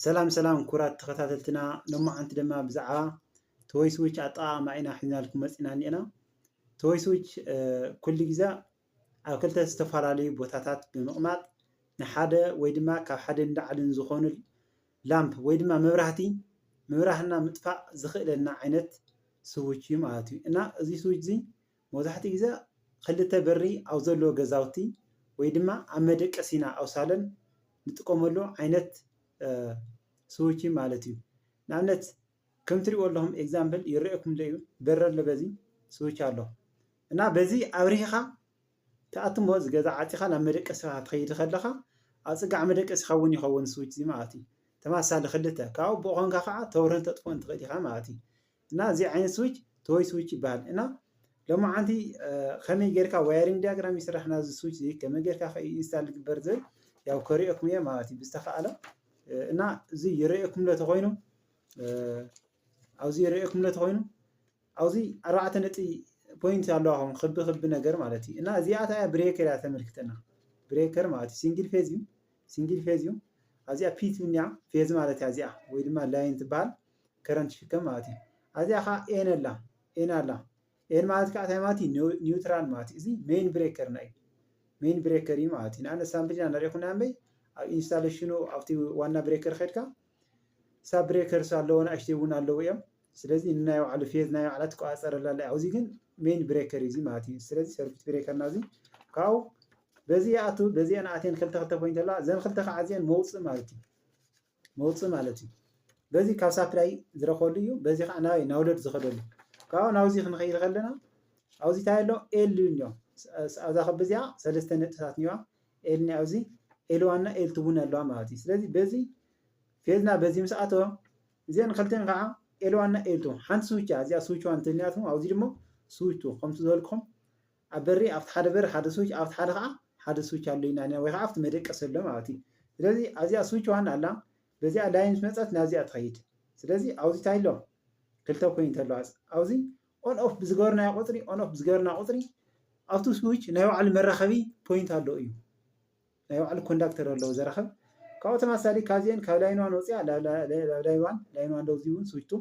ሰላም ሰላም ኩራት ተኸታተልትና ሎማዓንቲ ድማ ብዛዕባ ቶይ ስዊች ኣጠቓቕማ ኢና ሒዝናልኩም መፂና እኒአና ቶይ ስዊች ኩሉ ግዜ ኣብ ክልተ ዝተፈላለዩ ቦታታት ብምቕማጥ ንሓደ ወይ ድማ ካብ ሓደ ንላዕልን ዝኾኑ ላምፕ ወይ ድማ መብራህቲ ምብራህና ምጥፋእ ዝኽእለና ዓይነት ስዊች እዩ ማለት እዩ እና እዚ ስዊች እዚ መብዛሕትኡ ግዜ ክልተ በሪ ኣብ ዘለዎ ገዛውቲ ወይ ድማ ኣብ መደቀሲና ኣብ ሳሎን ንጥቀመሉ ዓይነት ስዊች እዩ ማለት እዩ። ንኣብነት ከም ትሪእዎ ኣለኹም ኤግዛምፕል ይረኣየኩም ኣሎ እዩ በሪ ኣሎ በዚ ስዊች ኣሎ እና በዚ ኣብሪህኻ ትኣቱ እሞ እዚ ገዛ ዓፂኻ ናብ መደቀሲኻ ክትኸይድ ከለኻ ኣብ ፅጋዕ መደቀሲኻ እውን ይኸውን ስዊች እዚ ማለት እዩ። ተመሳሳሊ ክልተ ካብኡ ብኡ ኮንካ ከዓ ተብርህን ተጥፍኦን ትኽእል ኢኻ ማለት እዩ። እና እዚ ዓይነት ስዊች ቶይ ስዊች ይበሃል እና ሎማዓንቲ ከመይ ጌርካ ዋየሪንግ ዲያግራም ይስራሕ ናዚ ስዊች እዚ ከመይ ጌርካ ከ ኢንስታል ይግበር ዝብል ያው ከሪኦኩም እየ ማለት እዩ ብዝተኸኣለ እና እዚ ይረኤኩም ለ ተኮይኑ ኣብዚ ይረኤኩም ለ ተኮይኑ ኣብዚ ኣርባዕተ ነጥቢ ፖይንት ኣለዋ ከም ክቢ ክቢ ነገር ማለት እዩ እና እዚኣ ታያ ብሬከር እያ ተመልክተና ብሬከር ማለት እዩ ሲንግል ፌዝ እዩ ሲንግል ፌዝ እዩ ኣብዚኣ ፒት ብኒያ ፌዝ ማለት እያ እዚኣ ወይ ድማ ላይን ትበሃል ከረንት ይሽከም ማለት እዩ ኣዚኣ ከኣ ኤን ኣላ ኤን ኣላ ኤን ማለት ከኣ እንታይ ማለት እዩ ኒውትራል ማለት እዩ እዚ ሜን ብሬከርና እዩ ሜን ብሬከር እዩ ማለት እዩ ንኣብነት ሳምፕል ኢና ንርኢ ኩና እምበይ ኣብ ኢንስታሌሽኑ ኣብቲ ዋና ብሬከር ኸድካ ሳብ ብሬከርስ ኣለዎ ንኣሽተይ እውን ኣለዉ እዮም ስለዚ ንናይ ባዕሉ ፌዝ ናይ ባዕላ ትቆፃፀረላ ኣላ ኣብዚ ግን ሜን ብሬከር እዩ እዚ ማለት እዩ ስለዚ ሰርኪት ብሬከርና እዚ ካብኡ በዚ ይኣቱ በዚአን ኣትየን ክልተ ክልተ ፖይንት ኣለዋ እዘን ክልተ ከዓ እዚአን መውፅእ ማለት እዩ መውጽኢ ማለት እዩ። በዚ ካብ ሳፕላይ ዝረክበሉ እዩ በዚ ከዓ ናበይ ናውሎድ ዝከደሉ ካብኡ ናብዚ ክንከይድ ከለና ኣብዚ ታይ ኣሎ ኤል እኒኦ ኣብዛ ክብ እዚኣ ሰለስተ ነጥብታት እኒዋ ኤል እኒኣ ኣብዚ ኤል ዋን እና ኤል ቱ እውን ኣለዋ ማለት እዩ። ስለዚ በዚ ፌዝና በዚ ምስ ኣተወ እዚአን ክልቲአን ከዓ ኤል ዋን እና ኤል ቱ ሓንቲ ስዊች እያ እዚኣ ስዊች ዋን እንተልኒኣትኩም ኣብዚ ድማ ስዊች ቱ ከምቲ ዝበልኩም ኣብ በሪ ኣብቲ ሓደ በሪ ሓደ ስዊች ኣብቲ ሓደ ከኣ ሓደ ስዊች ኣሎ ኢና ወይ ከኣ ኣብቲ መደቀሲ ኣሎ ማለት እዩ ስለዚ ኣዚኣ ስዊች ዋን ኣላ በዚኣ ላይን ምስ መጸት ናብዚኣ ትኸይድ ስለዚ ኣውዚ ታይ ኣሎ ክልተ ኮይንት ኣለዋ ኣውዚ ኦን ኦፍ ብዝገበርናዮ ቁጽሪ ኦን ኦፍ ብዝገበርና ቁጽሪ ኣብቲ ስዊች ናይ ባዕሉ መራኸቢ ፖይንት ኣለዎ እዩ። ናይ ባዕሉ ኮንዳክተር ኣለዎ ዘረክብ ካብኡ ተማሳሊ ካብዚኤን ካብ ላይን ዋን ወፂኣ ናብ ላይን ዋን ላይን ዋን ደውዚ እውን ስዊች ቱ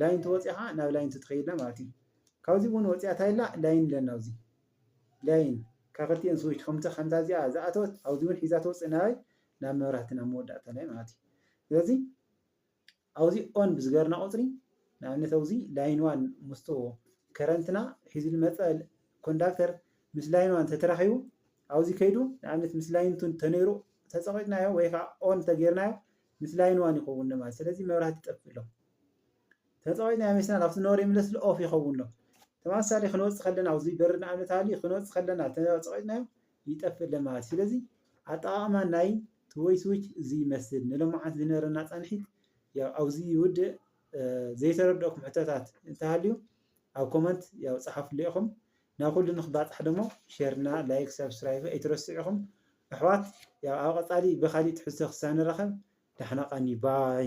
ላይን ቱ ወፂኣ ከዓ ናብ ላይን ቱ ትኸይድና ማለት እዩ ካብዚ እውን ወፂኣ ታይላ ላይን ኣለና ኣብዚ ላይን ካብ ክልቲኤን ስዊች ከምቲ ከምታ እዚኣ ዝኣተወት ኣብዚ እውን ሒዛ ተውፅእ ናበይ ናብ መብራህቲ ናብ መወዳእታ ላይ ማለት እዩ ስለዚ ኣውዚ ኦን ብዝገርና ቁጽሪ ንኣብነት ኣውዚ ላይን ዋን ምስቱ ከረንትና ሒዙ ዝመጸ ኮንዳክተር ምስ ላይን ዋን ተተራኺቡ ኣውዚ ከይዱ ንኣብነት ምስ ላይን ቱን ተነይሩ ተጸቂጥናዮ ወይ ከዓ ኦን ተገይርናዮ ምስ ላይን ዋን ይኸውን ማለት ስለዚ መብራህቲ ይጠፍእ ኣሎ ተጸቂጥናዮ ሜስና ካብቲ ኖር ይምለስ ኣሎ ኦፍ ይኸውን ኣሎ ተመሳሳሊ ክንወጽእ ከለና ኣውዚ በሪ ንኣብነት ሃልዩ ክንወጽእ ከለና ተጸቂጥናዮ ይጠፍእ ለማለት እዩ። ስለዚ ኣጠቓቕማ ናይ ትወይ ስዊች እዚ ይመስል። ንሎማዓንቲ ዝነበረና ፃንሒት ያው ኣብዚ ይውድእ። ዘይተረድኦኩም ሕቶታት እንተሃልዩ ኣብ ኮመንት ያው ፀሓፉለይ ኢኹም። ናብ ኩሉ ንክባፃሕ ደሞ ሼርና ላይክ ሳብስክራይብ ኣይትረስዑ ኢኹም። ኣሕዋት ያው ኣብ ቐፃሊ ብኻሊእ ትሕዝቶ ክሳብ ንራኸብ ዳሕና ቐንዩ ባይ